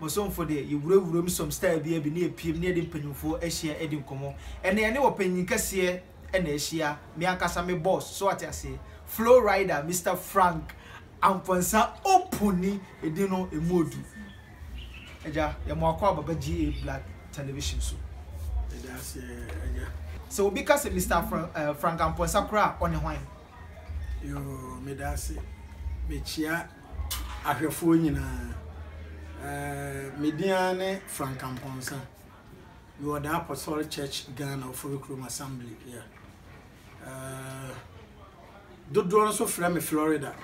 Bosomfo deɛ, yɛwurawuram som style biara bi na yɛpiem na yɛde mpanyimfoɔ ahyia di nkɔmmɔ. Ɛnnɛ yɛne ɔpanyin kɛseɛ na ahyia, me ankasa me boss, so ate aseɛ? Flow Rider Mister Frank Amponsah Opuni, edin no ɛmu ɔdu. Agya, yɛ mo akɔ aba ba GA Black Television so. Yɛda ase agya. Sɛ obi ka sɛ Mister Frank Amponsah koraa a, ɔne hwan? Yoo, meda ase. Mekyia ahwɛfoɔ nyinaa. Ɛɛɛ me din ara ne Frank Amponsah. Mewɔ The Apostolic Church Ghana Oforikrom Assembly yeah. Ɛɛɛ dodoɔ nso frɛ me Florida.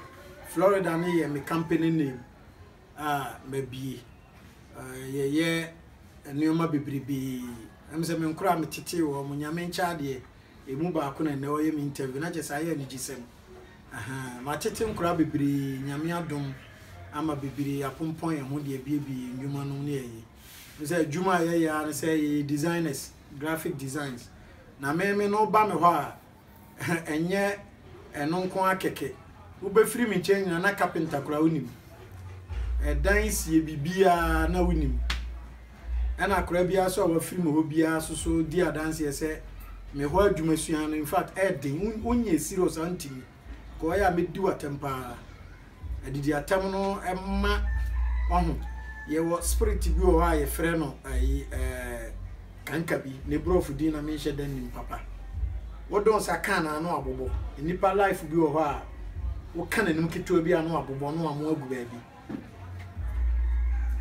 Florida no yɛ me company name a mabie. Ɛɛɛ yɛyɛ nneɛma bebrebee. Ɛm sɛ me nkora a metetee wɔn, Nyame nkyɛ adeɛ, ɛmu baako na nnɛ ɔyɛ me interview na kyɛ sɛ ayɛ anigyesɛm. Ahaa matete nkora bebree nyame adom ama bebree apompɔn yɛn ho de abiebie yɛn ndwuma nom ne yɛye wohu sɛ adwuma a yɛyɛ ara ne sɛ yɛyɛ designers graphic designs na meme no woba me hɔ a ɛnyɛ ɛno nko ara kɛkɛ wobɛfiri me nkyɛn nyina na carpenter koraa wonim ɛdan sie biribiara na wonim ɛna akwadaa biara nso a wafiri mu hɔ biara nso so di adanseɛ sɛ me hɔ adwuma sua no infact ɛyɛ den wonyɛ serious a ntumi ka ɔyɛ a mɛdi w'atɛm paa adidi atɛm no ɛma ɔho yɛwɔ spirit bi wɔ hɔ a yɛfrɛ no ayi ɛɛ kanka bi ne borɔfo din na menhyɛ da nim papa wodɔn sa ka na ano abobɔ nnipa life bi wɔ hɔ a woka n'anim ketewa bi ano abobɔ no a mo agu baabi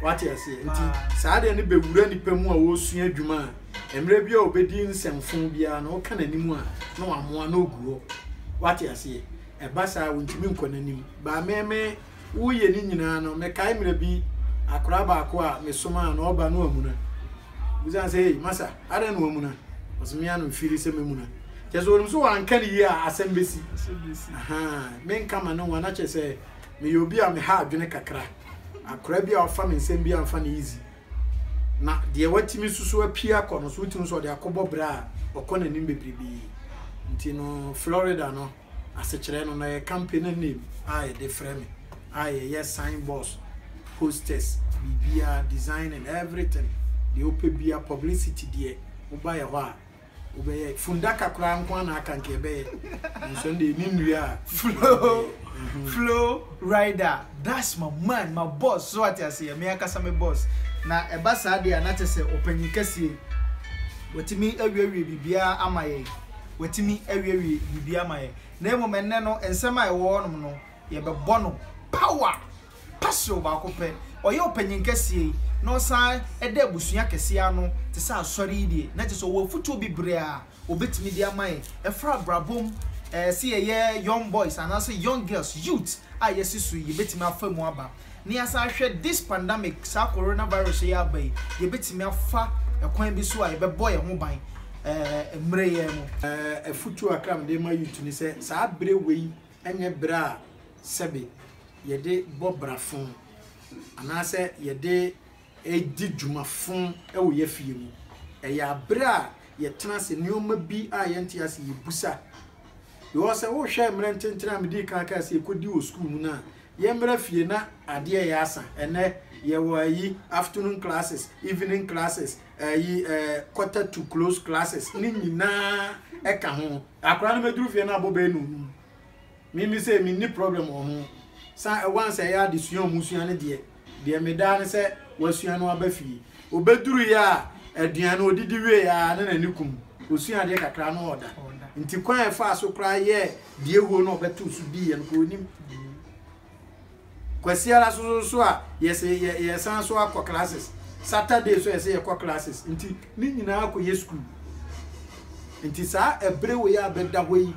Wate aseɛ? Nti saa adeɛ no bɛwura nipa mu a wɔresua adwuma a, mmerɛ bi a wɔbɛdi nsɛmfo biara no, woka n'anim a, na wamoa na ɔgu hɔ. Wate aseɛ? Ɛba saa wontumi nkɔ n'anim. Baa me me woyɛ ne nyinaa no, mekae mmerɛ bi akora baako a mesomaa no, ɔba no amuna. Bisa sɛ, hey, masa, adɛn na wamuna? Ɔsɛ me ano mfiri sɛ mɛmuna. Kyɛ sɛ wɔnim sɛ wɔanka ne yie a asɛm bɛsi. Ahaa, menka ma ne ho a, na kyɛ sɛ Meyɛ obi a meha adwene kakra. Akora bi a ɔfa me nsɛm bi a mfa no easy. Na deɛ watumi nso so apue akɔ no so wotumi sɛ ɔde akɔbɔ bra a ɔkɔ n'anim bebrebe. Nti no Florida no asekyerɛ no na yɛ company name a yɛde frɛ me a yɛyɛ sign boards, posters, biribiara designing everything deɛ wopɛ biara publicity deɛ woba yɛ hɔ a. wobɛyɛ fundaka koraa nko na aka nka ɛbɛyɛ nanso ɛnde ɛni nnua a flow mhm. flow rider that's my man my boss so ate ase yɛ me ankasa me boss na ɛba saa deɛ a na kyɛ sɛ ɔpanyin kɛseɛ watumi awiewie biribiara ama yɛn watumi awiewie biribiara ama yɛn na mmom ɛnnɛ no nsɛm a ɛwɔ hɔnom no yɛbɛbɔ no power Paserew baako pɛ, ɔyɛ ɔpanyin kɛseɛ yi, na ɔsan da abusua kɛseɛ ano te sɛ Asɔre yi deɛ, na kyerɛ sɛ ɔwɔ afutuo bebree a ɔbɛtumi de ama yɛn. Ɛfa abrabɔ mu, ɛɛ, sɛ yɛyɛ young boys anaasɛ young girls, youth, a yɛasi so yi, yɛbɛtumi afa mu aba. Na yɛasan ahwɛ this pandemic, saa Corona virus a ɛyɛ aba yi, yɛbɛtumi afa ɛkwan bi so a yɛbɛbɔ yɛn ho ban, ɛɛ, mmerɛ yi ara mu. Ɛɛ, afutuo kakra a mede rema youth ne sɛ, saa berɛ wei nyɛ bere a sɛbe yɛde bɔ bra fõ anaasɛ yɛde di dwuma fõ wɔ yɛn afie mu. Ɛyɛ bere a yɛtena ase, nneɛma bi a yɛnte ase yebisa. Because sɛ wohwɛ mmerɛ ntenten a medii kan kaa sɛ yɛkɔdi wɔ sukuu mu no a, yɛmmra fie na adeɛ yɛ asa. Ɛnnɛ yɛwɔ ayi, afternoon classes, evening classes, ɛyi ɛɛ quarter to close classes ne nyinaa ɛka ho akora no mɛduru fie no abɔ bɛyɛ no onum mimi sɛ menni problem wɔ ho sa ɛwan sɛ ɛyɛ adesua ɔmo sua no deɛ deɛ medaa no sɛ wasua no aba fie obɛduru yɛ a aduane no ɔdidi wie a ne n'ani kum ɔsua adeɛ kakra no ɔda nti kwan ɛfaa so koraa yɛ deɛ huo no ɔbɛto so diiɛ no kɔ onim Kwasiara so so so a yɛse yɛ yɛsan so akɔ classes. Saturday so yɛse yɛkɔ classes. Nti ne nyinaa kɔ yɛ school. Nti saa ɛbere wei a bɛda hɔ yi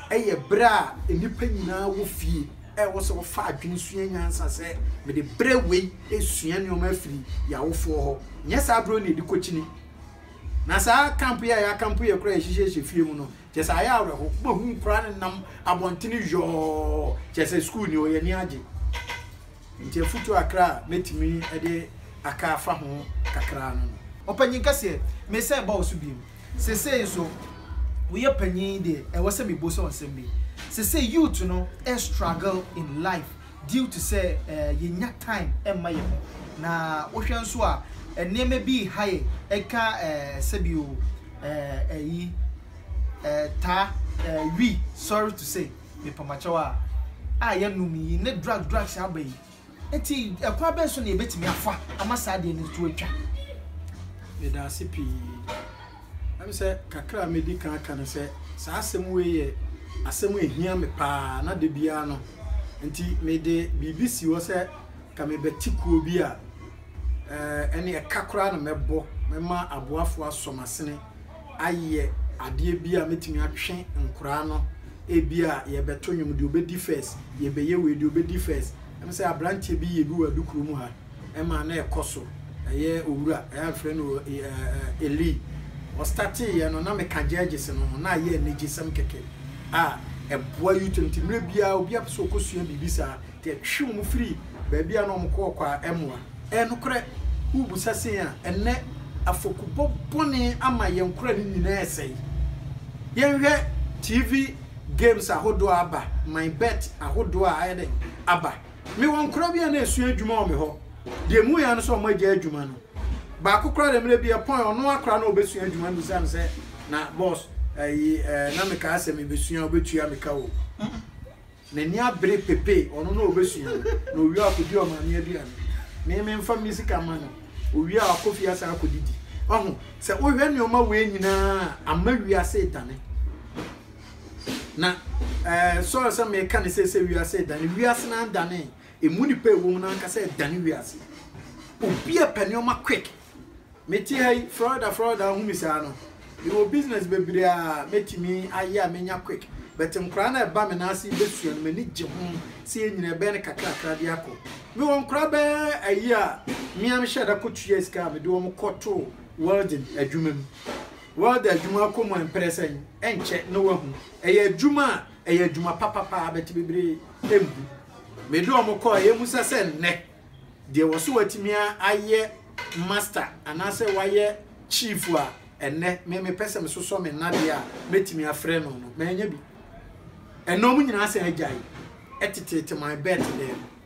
ɛyɛ bere a nnipa nyinaa wɔ fie ɛwɔ sɛ wɔfa adwene sua nyansa sɛ mede bere wei esua nneɛma afiri yɛ awofoɔ hɔ. Nyɛ saa bere wei na yɛde kɔkyini. Na saa camp yi a yɛakampo yɛ koraa yɛhyehyɛ hyɛ fie mu no Kyerɛ sɛ ayɛ awerɛho. Wobɛhu nkwadaa no nam abɔntene yɔɔ, kyerɛ sɛ sukuu ni, wɔn ani agye. Nti afutuo akra a mɛtumi de aka afa ho kakra no no. Ɔpanyin kɛseɛ, mesan ɛba wo so bio. Sesei nso, woyɛ panyin deɛ, ɛwɔ sɛ mebɔ sɛ nsɛm bi. Sesei youth no struggle in life, due to sɛ yɛnnya time mma yɛn ho. Na wohwɛ nso a, nneɛma bi reha yɛn, ɛka sɛbio ɛyi taa, wi, sorry to say, mepamakyɛw a, a yɛnom yi ne drug drugs aba yi. Nti ɛkwan bɛn so na yɛbɛtumi afa ama saa adeɛ no to atwa? Meda ase pii. Ɛm sɛ kakra a medi kan aka no sɛ saa asɛm wei yɛ asɛm a ehia me paa na da biara no nti mede biribi si hɔ sɛ ka mebɛte kuo bi a ɛne ɛka koraa na mɛbɔ mɛma aboafo asɔ m'asene ayɛ adeɛ bi a mɛtumi atwe nkoraa no ebi a yɛbɛto nnwom deɛ ɔbɛdi first yɛbɛyɛ wei deɛ ɔbɛdi first ɛm sɛ aberanteɛ bi yɛ bi wɔ adukuro mu ha ɛma na ɛkɔ so ɛyɛ owura ɛyɛ afrɛ no eli ɔstate yɛ no na meka gyɛgyes no ho na ayɛ anigyesɛm kɛkɛ a ɛboa youth no ti mmerɛ biara obi apɛ sɛ ɔkɔsua biribi saa nti ɛtwe wɔn firi baabi a na wɔn kɔ ɔkɔ a ɛmoa ɛyɛ nokorɛ wobusa sei a ɛnɛ afɔkubɔ bɔne ama yɛn kora no nyinaa ɛsɛe yɛnhwɛ tv games ahodoɔ aba my bet ahodoɔ a ayɛ dɛn aba Mewɔ nkora bi a na esua adwuma wɔ me hɔ. Deɛ emu yɛ ara ne sɛ wɔagyae adwuma no. Baako koraa deɛ mmerɛ bi ɛpɔn ɔno ara koraa na ɔbɛsua adwuma no bisa me sɛ, Na boss, ayi eh, na mekaa sɛ mebɛsua a wobɛtua me ka o. Mm-mm. N'ani abere pepee, ɔno na ɔbɛsua o, na ɔwie a ɔkɔdi ɔmaame aduane. Me, memfa me sika mma no. Ɔwie a wakɔ fie asan akɔdidi. Wahu, sɛ wohwɛ nneɛma wei nyinaa a, ama wiase redane. Na Saul sɛ meka ne sɛ sɛ wiase redane, wiase no andane, ɛmu nnipa ɛwɔ mu no ankasa ɛdane wiase. Obi a pɛ nneɛma quick. Mete ha yi, Florida, Florida, ahu me saa no. Mewɔ business bebree a mɛtumi ayɛ a menya quick. But nkoraa no ɛba me nan ase bɛsua no, m'ani gye ho sɛ yɛ nyina ɛbɛyɛ no kakrakra de akɔ. Mewɔ nkoraa bɛɛ ayi a mea mehyɛ da kɔtua sika a mede wɔn kɔto welding adwuma mu. Welder adwuma kɔ mu a mprɛsɛ yi, ɛnkyɛ na woahu. Ɛyɛ adwuma a ɛyɛ adwuma papa paa bɛte bebree mmu. Mede wɔn kɔɔ yɛ mu sɛ sɛ nnɛ deɛ wɔ so watumi ayɛ master anaasɛ wayɛ chief a ɛnnɛ me mepɛ sɛ mesosɔ me nnadeɛ a mɛtumi afrɛ no no, manya bi. Ɛnna wɔn nyinaa sɛ agyae ɛteteete my bet dɛm.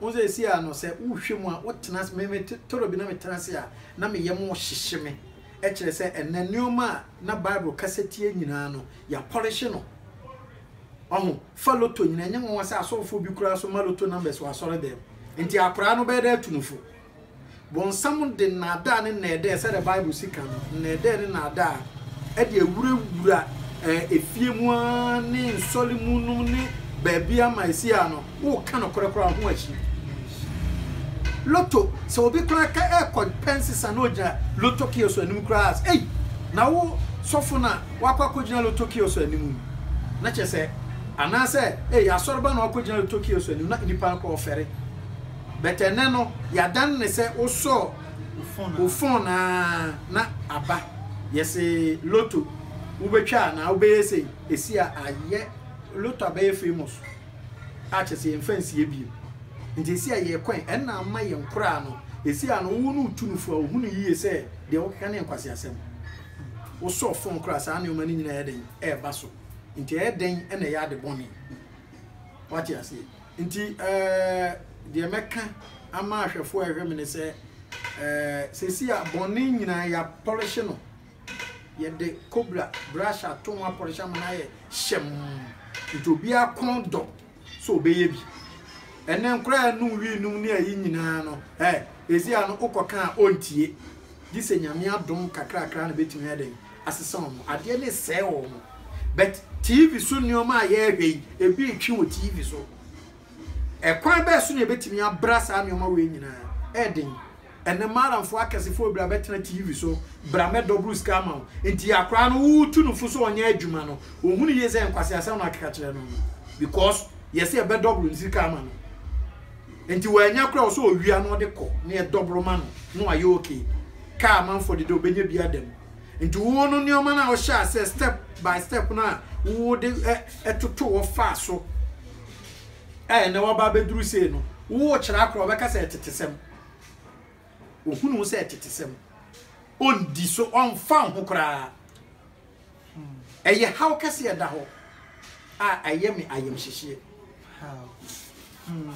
Wo seesei a no sɛ wohwɛ mu a wotena ase, me mete tɔrɔ bi na metena ase a na me yam hyehye me, ɛkyerɛ sɛ ɛnnɛ nnoɔma a na Bible kasa tia nyinaa no yɛapɔlehye no. Wahu? Fa lotto nyinaa, ɛnyɛ nwanwa sɛ asɔfoɔ bi koraa nso ma lotto numbers wɔ asɔredɛm. Nti akoraa no bɛyɛ dɛ atu no fo. Bonsam de nnaadaa ne nnɛɛdɛɛ, sɛdeɛ Bible si kan no, nnɛɛdɛɛ ne nnaadaa de awurawura efie mu ara ne nsɔre mu nom ne baabi ama esi a no, woka nokorɛ koraa ho akyi. Loto, sɛ obi koraa ka ɛkɔ pɛ nsesa na ogyina loto kiosk anim koraa sɛ, ei, na wo sɔfo na wakɔ akɔgyina loto kiosk anim yi, na kyerɛ sɛ, anaasɛ, ei, asɔreba na wakɔgyina loto kiosk anim, na nnipa no koraa ɔfɛre. But ɛnɛ no yadan no sɛ wosɔɔ wo phone aa na aba yɛse lotto wobɛtwa anaa wobɛyɛ sei ɛsi a ayɛ lotto abɛyɛ famous a kyerɛ sɛ yɛmfa nsie bio nti ɛsi a yɛkɔ ɛ ɛnna ama yɛn koraa no ɛsi a no wo no wotu no fo a ohunu yie sɛ deɛ woka ne nkwaseasɛm wosɔɔ phone koraa saa nneɛma no nyina ɛyɛ dɛn ɛɛba so nti ɛyɛ dɛn ɛna ɛyɛ ade bɔne wate aseɛ Nti deɛ mɛka ama ahwɛfoɔ a ɛhwɛ me ne sɛ, seesei a bɔne nyinaa yɛapɔlehye no, yɛde kobra brush ato ho apɔlehye ama no ayɛ hyɛmm, nti obiara kɔn dɔ sɛ ɔbɛyɛ bi. Ɛnɛ nkora a ɛnom wii nom ne ayi nyinaa no, ɛɛ, ɛsi a no wokɔka a ɔntie, gye sɛ Nyame adom kakrakra na bɛtumi ayɛ dɛn? asesa wɔn adeɛ ne sɛe wɔn but tv so nneɛma a yɛrehwɛ yi ebi retwe wɔ tv so ɛkwan bɛɛ so na ebetumi abra saa nneɛma wei nyinaa ɛden ɛnɛ maalamfo akɛsefoɔ bira bɛtena tv so bra mɛdɔboro sika ama wo nti akora no wotu no fo so ɔnyɛ adwuma no wɔhu no yie sɛ nkwasi asɛm na akeka kyerɛ no because yɛsɛ ɛbɛdɔboro ne sika ama no nti wɔanya kora wɔ sɛ ɔwia na ɔde kɔ na yɛdɔboro ma no na wayɛ okay Kaa a amanfoɔ de dɛ ɔbɛnya bi ada mu. Nti woɔ no nnoɔma no a wohyɛ aseɛ step by step no a wo de ɛ toto hɔ faa so a ɛnɛ waba abɛduru sei no wo kyerɛ akora ɔbɛka sɛ ɛtetesɛm. Ɔhunu wo sɛ ɛtetesɛm. Ɔndi so, ɔmfa wo ho koraa. Ɛyɛ haw kɛseɛ ɛda hɔ a ɛyɛ me ayamhyehyeɛ. How? Hmm.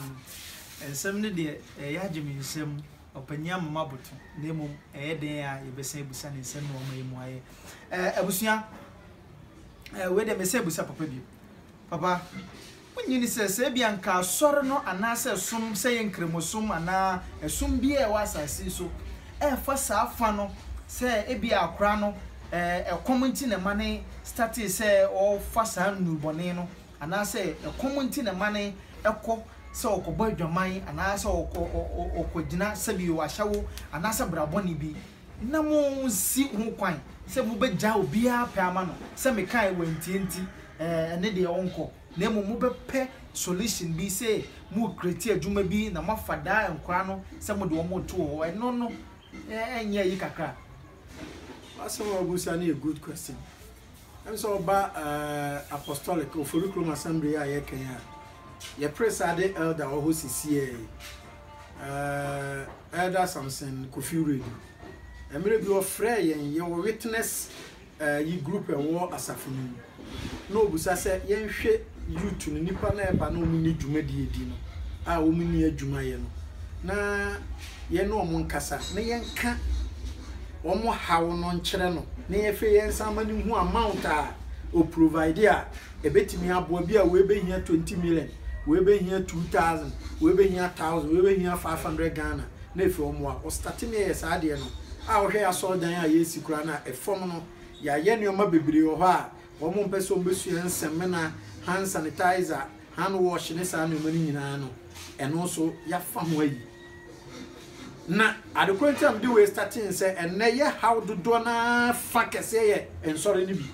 Nsɛm no deɛ ɛyɛ agye me nsam. Ɔpanyin ama mo aboto, na mmom ɛyɛ dɛn a yɛbɛsan abisa no nsɛm na wama yɛn mu ayɛ? Ɛɛ, abusua, ɛɛ, wei deɛ mɛsan abisa papa bio. Papa, wonnye ni sɛ, sɛ ebia nka asɔre no anaasɛ som, sɛ ɛyɛ Nkramosom anaa ɛsom biara a ɛwɔ asase yi so, ɛrefa saa fã no sɛ ebia akora no, ɛɛ, ɛkɔm nti na ɛma no statee sɛ ɔrefa saa nnubɔne no? anaasɛ ɛkɔm nti na ɛma no kɔ sɛ ɔkɔbɔ adwaman anaasɛ ɔkɔgyina sɛbi ahyɛwo anaasɛ brabɔne bi, na monsi ho kwan sɛ mobɛgyaa obiara pɛ ama no, sɛ mekae wantie nti ɛne deɛ ɔnkɔ, na mmom mobɛpɛ solution bi sɛ mo create adwuma bi na moafa daa nkwadaa no sɛ mode wɔn reto wɔ hɔ, ɛno no ɛnyɛ ayi kakra? W'asɛm a w'abusa no yɛ good question. Ɛm sɛ ɔba eh, Apostolic Ofori Kurom Assembly yi a yɛka yi a, yɛpere sɛ ade Elder wɔ hɔ sisiɛ yi, eh, Elder Samson Kofi Wiredu. Mmerɛ bi ɔfrɛɛ yɛn, yɛwɔ Witness eh, yi group ɛwɔ asafo no mu, na ɔbusa sɛ yɛnhwɛ youth no, nnipa no a ɛba na wɔn nni dwumadie di no, a wɔn nni adwuma yɛ no, na yɛne wɔn nkasa, na yɛnka. wɔn haw no nkyerɛ no. Ne yɛhwɛ yɛn nsa ma no hu amount a o provide a ɛbɛtumi aboa bi a wei bɛhia 20 million wei bɛhia 2000 wei bɛhia 1000 wei bɛhia 500 Ghana na ɛfiri wɔn wa o starte ne yɛ saa deɛ no a wohwɛ yɛ asɔre dan a yɛsi kura no a ɛfam no yɛayɛ nneɛma bebree wɔ hɔ a wɔn mpɛ sɛ wɔn bɛsua nsɛmena hand sanitizer hand wash ne saa nneɛma no nyinaa no ɛno nso yɛafa ho ayi Na ade koro nti a mede wei startee ne sɛ ɛnnɛ yɛ haw dodoɔ no ara fa kɛseɛ yɛ nsɔre no bi.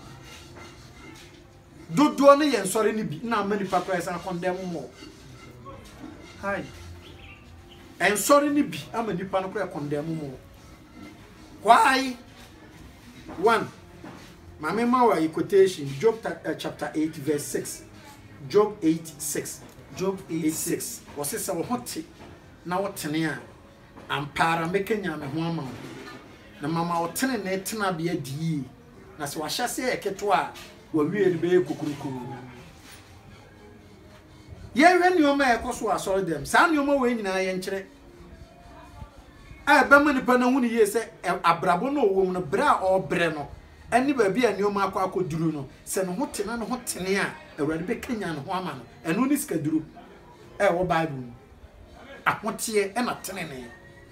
Dodoɔ no yɛ nsɔre no bi na ama nipa koraa san kɔndɛm mɔ. Hai. Nsɔre no bi ama nipa no koraa kɔndɛm mɔ. Kwaai one, ma me ma wo ayi quotation, Job eh, chapter eight verse six, Job eight six. Job eight six. Wɔsi sɛ wo ho te na wo tene a, ampa ara mɛkanyan me ho ama wo, na mama wo tenenee tenabea di yie, na sɛ wahyɛ ase yɛ ketewa a, wawie no bɛyɛ kokurokuro. Yɛhwɛ nneɛma a ɛkɔ so wɔ asɔre dɛm, saa nneɛma wei nyinaa yɛnkyerɛ. a ɛbɛma nipa no ahu no yie sɛ abrabɔ no a ɔwɔ mu no, berɛ a ɔrebrɛ no, ne baabi a nneɛma akɔ akɔduru no, sɛ ne ho te na ne ho tene a, Awurade bɛkanyan ne ho ama no. Ɛno ne sikaduro a ɛwɔ Bible mu. Ahoteɛ ɛna tenenee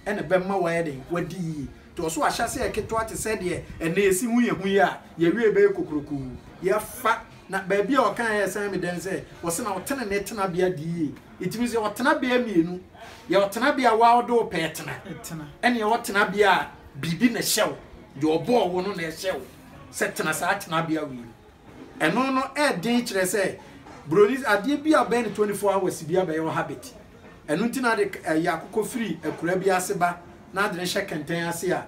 ɛna ɛbɛma wayɛ den, wadi yie. Nti ɔso ahyɛ aseɛ ɛketewa te sɛ deɛ ɛnɛ yɛsi hu yɛn ho yi a, yɛwie bɛyɛ kokurokuu. Yɛfa na baabi a ɔkaeɛ a ɛsan me dɛn sɛ, ɔse na wo tenenee tenabea di yie. Ɛtumi nso yɛ ɔtenabea mmienu. Yɛ ɔtenabea a wo a wode wo pɛ tena, ɛne yɛ ɔtenabea a biribi na ɛhyɛ wo, deɛ ɔbɔɔ wo no na ɛhyɛ wo sɛ tena saa tenabea wei mu. Ɛno no ɛden kyerɛ sɛ buroni adeɛ bi a bɛyɛ no 24 hours bi abɛyɛ wo habit. Ɛno nti na ade ɛyɛ akokɔ firi akura bi ase ba na ade no hyɛ kɛntɛn ase a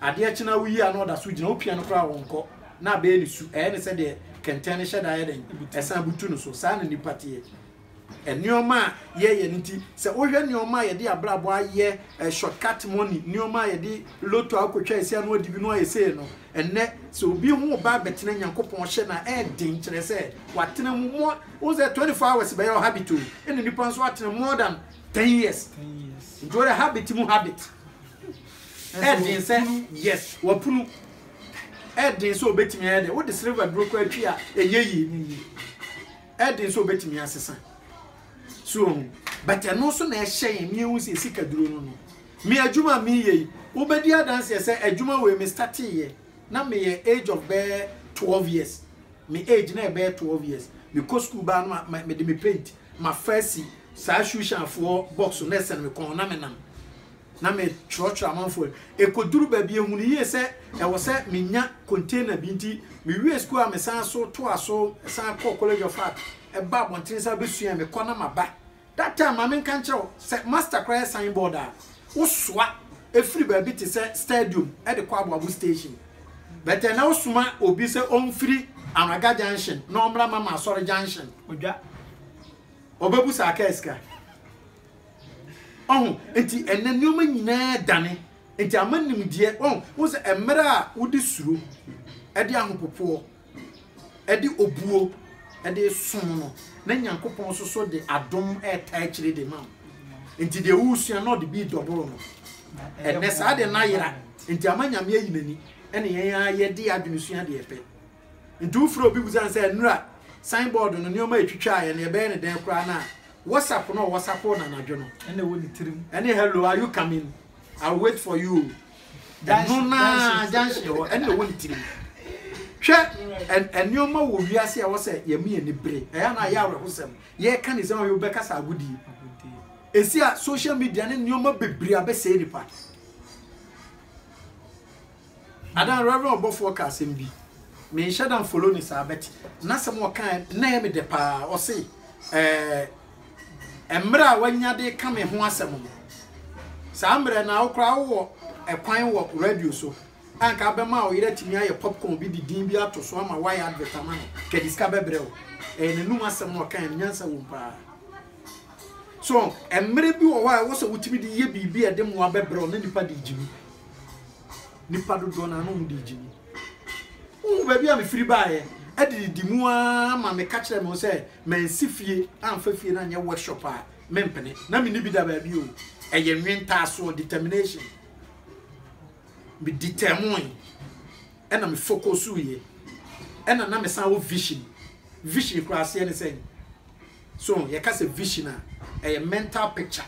adeɛ kye na woyi a na ɔda so gyina wopia no koraa wɔnkɔ na abɛyɛ ne su ɛyɛ ne sɛ deɛ kɛntɛn no hyɛ da yɛ dɛn ɛsan butu no so saa na nipa teɛ. Nneɛma a yɛyɛ no nti, sɛ wohwɛ nneɛma a yɛde abrabɔ ayɛ, eh, short cut money, nneɛma a yɛde lotto akɔtwa asi ano adi bi no ayɛ sei no, ɛnnɛ sɛ obi ho reba abɛtena Nyankopɔn hyɛ no a, ɛyɛ den, kyerɛ sɛ, watena mu more, wohu sɛ 24 hours bɛyɛ wo habit o, ɛna nnipa nso atena more than 10 years. Nti wɔde habit mu habit. Ɛyɛ den sɛ, yes, wapunu. Ɛyɛ den sɛ obetumi ayɛ dɛ, wode silver duro kɔ atwi a, ɛnyɛ yie. ɛden sɛ obetumi asesa so ohu but ɛno nso na ɛhyɛ yɛn ne ehu sɛ esi kaduro no no me adwuma a meyɛ yi wobɛdi adanseɛ sɛ adwuma wei me startee yɛ na meyɛ age of bɛɛ 12 years me age na ɛbɛyɛ 12 years mekɔ sukuu baa no ma mede me paint ma fa si saa shoe shine foɔ box na ɛsɛn me kɔn na menam na mekyerɛkyerɛ amanfoɔ no. Ɛkɔduru baabi yɛhunuu yie sɛ ɛwɔ sɛ menya container bi nti mewiee sukuu a mesan so toaa so san kɔɔ College of Art baa abɔntene san bɛsuaeɛ mekɔ na maba. That time ma menka nkyerɛ wo sɛ master koraa yɛ sign board a wosoa firi baabi te sɛ stadium de kɔ Aboabo station but ɛnnɛ wosoma obi sɛ ɔmfiri Anwaga junction na ɔmmra Mama Asɔre junction odwa ɔbɛbu saa kaa sika. Ɔho, nti ɛnɛ nnoɔma nyinaa dane, nti ama nimdeɛ, ɔho, wo sɛ mmerɛ a wode suro, ɛde ahopopoɔ, ɛde obuo, ɛde som no, na Nyankopɔn soso de adom ɛta akyire de ma wo. Nti deɛ wosua na ɔde bi dɔboro no, ɛnɛ saa deɛ na yera, nti ama Nyame ayi n'ani, ɛne yɛn ara yɛde adwene sua deɛ ɛpɛ. Enti wofrɛ obi bisa no sɛ, Nnura, signboard no, nneɛma a etwitwaa yɛn no, yɛbɛyɛ no dɛn koraa na Whatsapp no a wɔsapow no anadwo no na ɛwɔ ne tirim ne Hello, are you coming? I'll wait for you. Ɛno no ara, junction hɔ, ɛna ɛwɔ ne tirim. Hwɛ, nneɛma wɔ wiase a ɛwɔ sɛ yɛma yɛn ani bere. Ɛyɛ a na ayɛ awerɛhosɛm. Yɛreka ne sɛ ɔyɛ wobɛkasa agodie. Ɛsi a social media ne nneɛma bebree abɛsɛe nipa. Adaa Rev ɔbɔfoɔ kaa asɛm bi me nhyɛ da nfollow no saa but nasɛm a ɔkaeɛ no na ɛyɛ me dɛ paa ɔse ɛɛ mmerɛ a wanya de ka me ho asɛm no saa mmerɛ no a wo koraa wowɔ ɛkwan wɔ radio so a nka abɛma a ɔyere atumi ayɛ popcorn bi de din bi ato so ama wayɛ advert ama no ka de sika bɛbrɛ wo ɛyɛ n'anum asɛm na ɔkaeɛ no nyansa wom paa so mmerɛ bi wɔ hɔ a ɛwɔ sɛ wotumi de yɛ biribi a ɛde mmoa bɛbrɛ wo na nipa de gye mu nipa dodoɔ no ano ɔmo de gye mu wohu baabi a mefiri baeɛ adididi mu ara ma meka kyerɛ me sɛ mansi fie amfa fie no anyɛ workshop a mempene na menni bi da baabi o ɛyɛ nwentaasoɔ determination meditɛmoe ɛna mefokosuiɛ ɛna na mesan wɔ vision vision koraa aseɛ ne sɛn so yɛka sɛ vision a ɛyɛ mental picture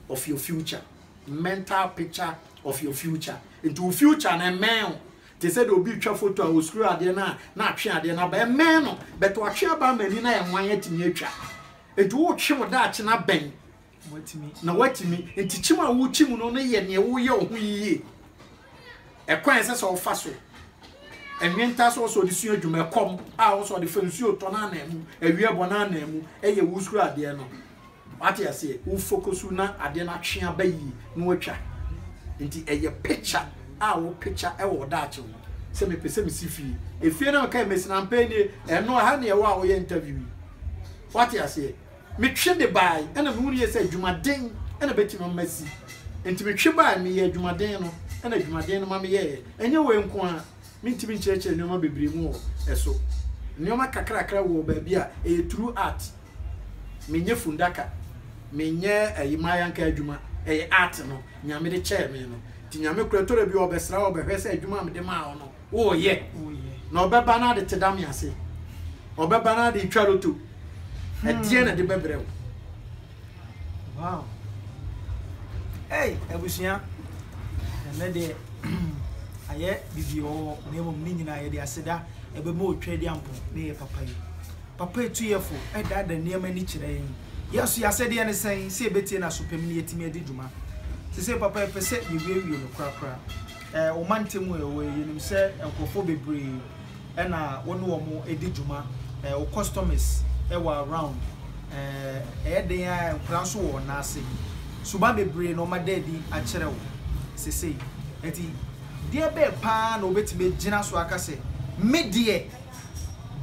of your future mental picture of your future nti wo future no ɛmɛn o te sɛ deɛ obi retwa foto a ɔsukuru adeɛ no a na atwe adeɛ no aba ɛmɛn no bɛtɛ watwe aba ama ani na yɛ nwan atumi atwa nti wotwe wo daakye no abɛn na watumi nti kyim a wokyim no no yɛ neɛ woyɛ wo ho yie ɛkwan ɛsɛ sɛ wofa so ɛnwenta sɛ ɔsɛ ɔde sua adwuma ɛkɔm a ɔsɛ ɔde fa nsuo tɔ no anaa mu awie bɔ no anaa mu ɛyɛ wo sukuru adeɛ no Wate aseɛ? Wo fokosu na adeɛ no atwe aba yie na watwa. Nti ɛyɛ picture a wo picture ɛwɔ wo daakye ho sɛ mepɛ sɛ mesi fie. Efie no a mekae mesi no ampa nie, ɛno ɛha na yɛwɔ a woyɛ interview yi. Wate aseɛ? Metwe de bae ɛna mehu no yie sɛ adwumaden ɛna ɛbɛtumi ama masi. Nti metwe bae, meyɛɛ adwumaden no ɛna adwumaden no ma meyɛeɛ. Ɛnyɛ wei nko ara, Mentumi nkyerɛkyerɛ nnoɔma bebree mu wɔ ɛso. Nnoɔma kakrakra wɔ baabi a ɛyɛ true art. Menyɛ fundaka, menyɛ ɛyi m'ayanka adwuma, ɛyɛ art no Nyame de kyɛɛ me no. Nti Nyame koraa tɔda bi ɔɔbɛsra wo ɔɔbɛhwɛ sɛ adwuma a mede maa wo no wooyɛ. Na ɔbɛba na ade teda me ase. Ɔbɛba na ade retwa loto. Ɛdeɛn na ɛde bɛbrɛ wo? Wow ei abusua ɛnɛ deɛ ayɛ bibi ɔwɔ na mmom ne nyinaa yɛde aseda ɛbɛma otwa di ampo ne yɛ papa yi papa etuyɛfo ɛda da nneɛma ani kyerɛ yɛn yɛso yɛasɛdeɛ ne sɛn sɛ ɛbɛtie no asopɛm ne yɛtumi adi dwuma te sɛ papa yɛpɛ sɛ yɛwiewie no korakora ɛɛ ɔma ntɛmu ɛwɔ yɛnim sɛ nkurɔfoɔ bebree na wo ne wɔn di dwuma, wo customers wɔ around, ɛyɛ den ara nkwadaa nso wɔ wɔn nan ase. Suban bebree na wɔada adi akyerɛ wo sesei. Enti deɛ bɛn paa na wobɛtumi agyina so aka sɛ, me deɛ,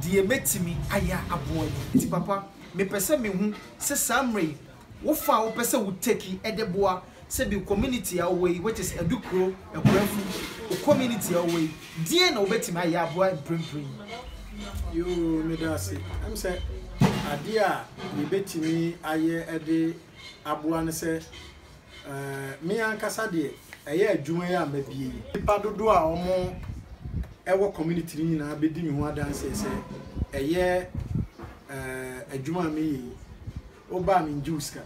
deɛ mɛtumi ayɛ aboa yi. Enti papa, mepɛ sɛ mehu sɛ saa mmerɛ yi Wo fa a wopɛ sɛ wo take ɛde boa sɛ bi community a ɔwɔ yi which is Adukuro, Akuafu, wo community a ɔwɔ yi deɛn na wobɛtumi ayɛ aboa mprempren yi? Yoo, meda ase. Ɛm sɛ adeɛ a yɛbɛtumi ayɛ ɛde aboa ne sɛ eh, me ankasa deɛ ɛyɛ adwuma yi a mabie yi, nnipa dodoɔ a wɔn ɛwɔ community no nyinaa bɛdi me ho adanseɛ sɛ ɛyɛ eh, adwuma a meyɛ yi. Wo ba a me ngye wo sika.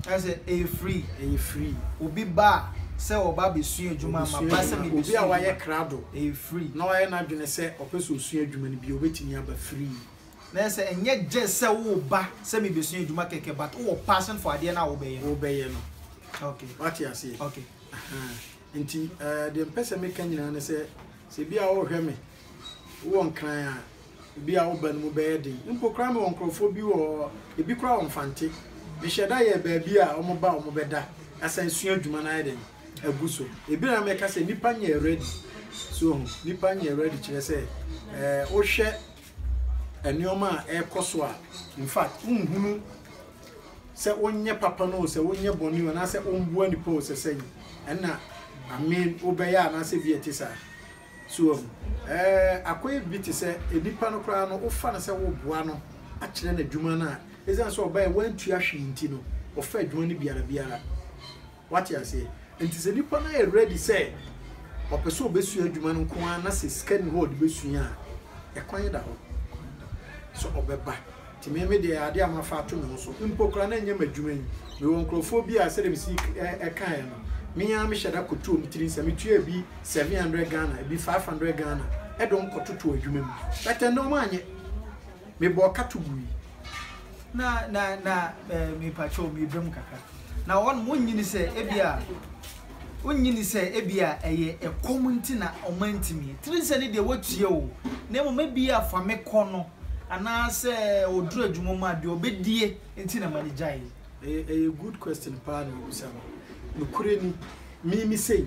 Kyerɛ sɛ ɛyɛ free. Ɛyɛ free. Obi ba a sɛ ɔba abɛsua adwuma a ma ba sɛ mebɛsua adwuma. Obi a wayɛ krado. Ɛyɛ free. Na wayɛ n'adwene sɛ ɔpɛ sɛ ɔsua adwuma no bio ɔbɛtumi aba free. Na ɛyɛ sɛ ɛnyɛ gyes sɛ wo ba sɛ mebɛsua adwuma kɛkɛ but wo wɔ passion for adeɛ no a wobɛyɛ no. Wobɛyɛ no. Ok. Wate aseɛ. Ok. Ahaa. Nti eh deɛ mpɛ sɛ meka nyinaa ne sɛ sɛ bi a wohwɛ me. Wowɔ Nkran a, ebi a woba no mu bɛyɛ den. Mpo koraa mewɔ nkurɔfoɔ bi wɔ hɔ, ebi koraa wɔmfa nte. Mehyɛ da yɛ baabi a wɔba a wɔbɛda asan sua adwuma no ayɛ dɛn? agu so. Ebi na mɛka sɛ nnipa nyɛ ready. So ohu? Nnipa nyɛ ready kyerɛ sɛ eh, wohwɛ nneɛma a ɛrekɔ so a, in fact, wonhunu sɛ wonyɛ papa no o, sɛ wonyɛ bɔne o, anaasɛ womboa nipa o, sɛ sɛn ɛna amen wobɛyɛ anaasɛ bi a ɛte saa. So wahu? Ɛɛ, akɔyɛ bi te sɛ nnipa no koraa no, wofa no sɛ woreboa no akyerɛ no adwuma no a, esiane sɛ ɔbae wantua hwee nti no, ɔfa adwuma no biara biara. Woate aseɛ? Nti sɛ nnipa no ayɛ ready sɛ ɔpɛ sɛ ɔbɛsua adwuma no nko ara na sɛ sika nni hɔ a ɔde bɛsua a, ɛkwan da hɔ sɛ ɔbɛba. Nti me me deɛ adeɛ a mafa ato me ho so mpo koraa na ɛnyɛ m'adwuma yi. Mewɔ nkorɔfoɔ bi a sɛdeɛ mesi kaeɛ no, me ara mehyɛ da kɔtu wɔn tiri nsa. Metua ebi seven hundred Ghana, ebi five hundred Ghana de wɔn kɔtoto adwuma mu. But ɛnnɛ wɔanyɛ. Mebɔɔ ka to gui. Na, na, na, eh, mepakyɛw, meba mu kakra. Na wɔn, wonnye ni sɛ ebi a, wonnye ni sɛ ebi a ɛyɛ ɛkɔm nti na wɔantumi. Tiri nsa no deɛ wɔatua o, na mmom ebi a fa me kɔ no. anaasɛ ɔduru adwuma mu a deɛ ɔbɛdie nti na ma no gyaeɛ. Ɛyɛ ɛyɛ good question paa na wabisa no. Nokorɛ ni, me me sei,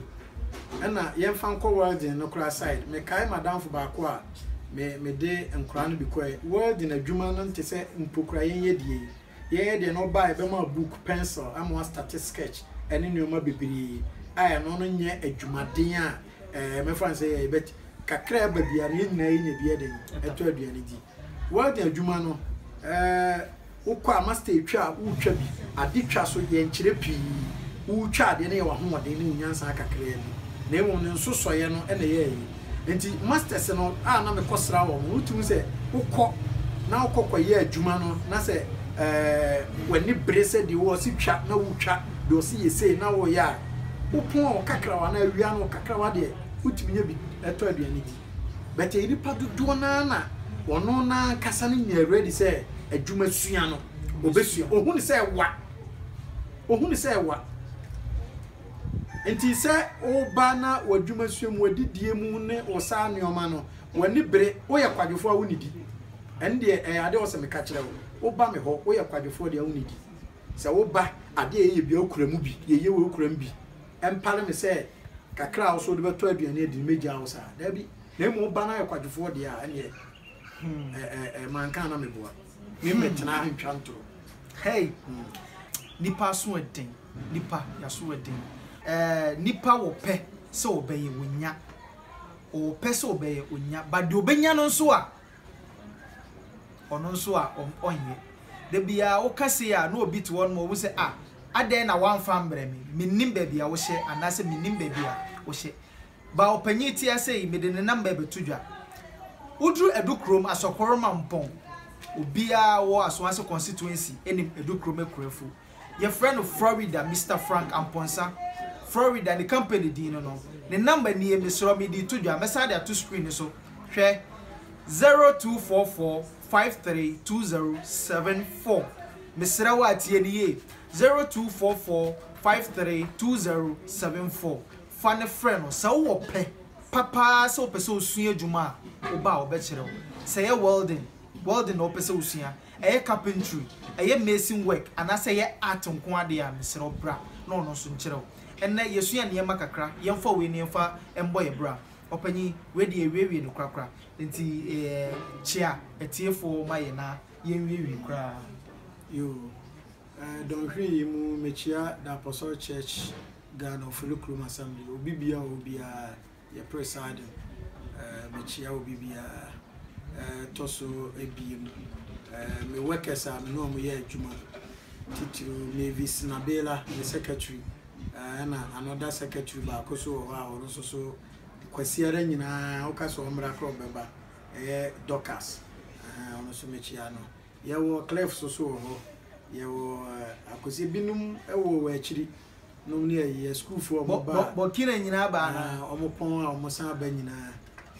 ɛna yɛmfa nkɔ welding no koraa side, mekae m'adamfo baako a me mede nkoraa no bi kɔɛ, welding adwuma no nte sɛ mpo koraa yɛn yɛ deɛ yi. Yɛn yɛ deɛ no ɔbaa ɛbɛma wo book, pencil ama w'astate sketch ɛne nnoɔma bebree a ɛno no nyɛ adwumaden a ɛɛ mɛfa no sɛ yɛyɛ but kakra a ɛba biara no yɛn nyinaa yɛnya bi yɛ den ɛtɔ aduane di welding adwuma no ɛɛ wokɔ a master etwa a wotwa bi ade twa so yɛnkyerɛ pii wotwa adeɛ no yɛ w'ahoɔden ne wo nyansa kakraa bi na mmom ne nsosɔeɛ no ɛna ɛyɛ ayi nti masters no a na mekɔsra wɔn no wotumi sɛ wokɔ na wokɔ kɔyɛ adwuma no na sɛ ɛɛ w'ani bere sɛ deɛ wɔsi twa na wotwa deɛ ɔsi yɛ sei na wɔyɛ a Wopɔn wo kakrawa anaa ewia no wo kakrawa deɛ wotumi nya bi tɔ aduane di but ɛyɛ nipa dodoɔ no ara na ɔno no ara ankasa no nyɛ ready sɛ adwuma sua no ɔbɛsua ɔhu no sɛ ɛwa ɔhu no sɛ ɛwa nti sɛ woba na w'adwuma sua mu wadidie mu ne wo saa nneɛma no w'ani bere woyɛ kwadwofoɔ a wonidi ɛne deɛ ɛyɛ adeɛ wɔ sɛ meka kyerɛ wo woba me hɔ woyɛ kwadwofoɔ deɛ wonidi Sɛ wo ba ade a yɛyɛ bia okura mu bi, yɛyɛ wei okura mu bi, ɛmpare me sɛ kakra a wo so wode bɛtɔ aduane adi no mɛgyaa wo saa. Daabi. Na mmom wo ba no ayɛ kwadwofoɔ deɛ a, ɛnneɛ ɛ, ɛ, ɛ, manka a na meboa. Memmɛtena ha ntwa ntoro. Hei! Nnipa aso yɛ den. Nnipa, yɛaso yɛ den. Ɛɛ, nnipa wɔ pɛ sɛ wɔbɛyɛ, wɔnya. Wɔwɔ pɛ sɛ wɔbɛyɛ, wɔnya. But deɛ wɔbɛnya no nso a, Ɔno nso a ɔnyɛ. Da biara woka sei a na obi te hɔ nom ohu sɛ ah adɛn na woamfa ammrɛ me, mennim baabi a wohyɛ anaasɛ mennim baabi a wohyɛ. Ba ɔpanyin te ase yi mede ne namba bɛto dwa. Woduru Adukrom, Asɔkɔroma Mpɔn, obiara wɔ Asoase Constituency nim Adukrom akuafo. Yɛfrɛ no Florida Mister Frank Amponsah Florida ne company din no no ne number nie mesrɛ wo mede to dwa mɛsan de ato screen no so hwɛ zero two four four five three two zero seven four mesrɛ wo a tie no yie zero two four four five three two zero seven four fa no frɛ no sɛ wowɔ pɛ pa paa sɛ wopɛ sɛ wosua adwuma a wo ba a ɔbɛkyerɛ wo sɛ ɛyɛ welding welding na wopɛ sɛ wosua Ɛyɛ carpentry, ɛyɛ mason work anaasɛ ɛyɛ art nko ara deɛ a, mesrɛ wo bra na ɔno nso nkyerɛ wo. Ɛnnɛ yɛsua nneɛma kakra, yɛmfa wei na yɛmfa mmɔ yɛn bra. Ɔpanyin, wei deɛ yɛawiewie no korakora, enti kyea atiefoɔ ma yɛn na yɛnwiewie koraa. Yoo, ɛɛ dɔnhwere yi mu mekyea Daapɔsɔr Church Ghana Ofori Kurom Assembly, obi biara a ɔwɔ biara. Yɛpere saa de, mekyia obi biara. Ɛtɔ so abien, me workers a me ne wɔn yɛ adwuma, titiriw Mavis Nabela, me secretary, ɛna another secretary baako so wɔ hɔ a ɔno nso so kwasiara nyinaa woka sɛ ɔmmra korɔ bɛba, ɛyɛ Dorcas, ɔno nso mekyia no. Yɛwɔ clerks nso wɔ hɔ, yɛwɔ akwasi binom wɔ wɔ akyiri. nom ne ɛyɛ sukuufoɔ wɔn ba a bɔkina nyinaa baa na wɔn pɔn a wɔn san ba nyinaa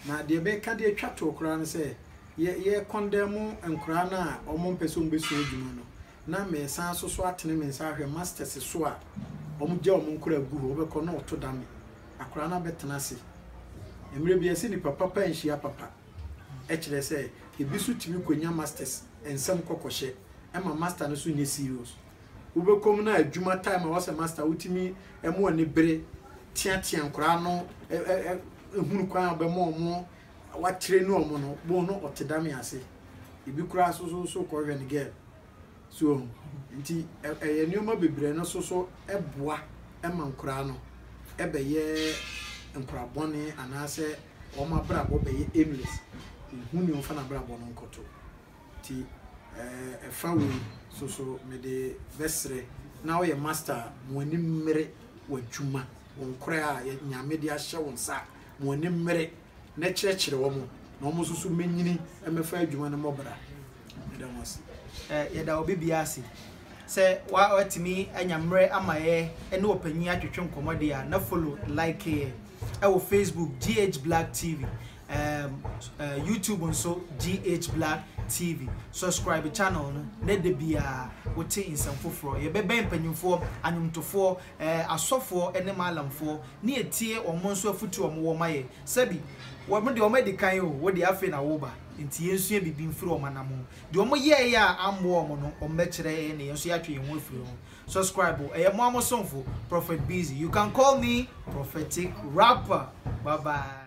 na deɛ bɛka deɛ twa toɔ koraa no sɛ yɛ yɛ kɔndɛn mo nkoraa no a wɔn mpɛ sɛ wɔn bɛsua adwuma no na mɛsan so so atene me nsa ahwɛ masters so a wɔn gya wɔn nkoraa gu hɔ wɔbɛkɔ na ɔto da me akoraa no abɛtena ase mmerɛ bi ɛsɛ nipa papa nhyia papa ɛkyerɛ sɛ ebi so tumi kɔnya masters nsɛm kɔkɔhyɛ ɛma master no so nyɛ serious wobɛkɔ mu na adwuma time a wɔ sɛ master wotumi ɛmo ani bere teatea nkoraa no hunu kwan a bɛma ɔmo watere ne ɔmo no bohu no ɔte dame ase ebi koraa so so so kɔhwɛ ne girl so nti ɛyɛ nneɛma bebree no so so ɛboa ɛma nkoraa no ɛbɛyɛ nkoraa bɔne anaasɛ wɔn abrabɔ bɛyɛ aimless ehu ne ɔmfa n'abrabɔ no nkɔto Nti eh ɛfa wei so so mede bɛsrɛ na woyɛ master a mo ani mmere w'adwuma, wo nkorɛ a Nyame de ahyɛ wo nsa a mo ani mmere na kyerɛkyerɛ wɔn na wɔn nso so mɛnyini mɛfa adwuma no mmɔ bra. Meda mo ase. Eh yɛda obi biara ase sɛ woatumi anya mmerɛ ama yɛ ne ɔpanyin atwetwe nkɔmmɔ deɛ a na follow like yɛ wɔ facebook GH Black TV. um, uh, YouTube nso GH Blood TV. Subscribe channel no na da biara wote nsɛm foforɔ. Yɛbɛbɛn mpanyinfoɔ, anwomtofoɔ, eh, asɔfoɔ ne maalamfoɔ ne yɛtie wɔn nso afutuo wɔn wɔ ma yɛ. Sɛbi wɔn deɛ wɔn adi kan o, wo deɛ afei na woba. Nti yɛnsua biribi mfiri wɔn anam ho. Deɛ wɔn yɛɛyɛ a ammoa wɔn no, wɔn bɛkyerɛ yɛn na yɛn nso yɛatwe yɛn ho afiri ho. Subscribe o, ɛyɛ mo amosomfo, Prophet Busy. You can call me Prophetic Rapper. Bye bye.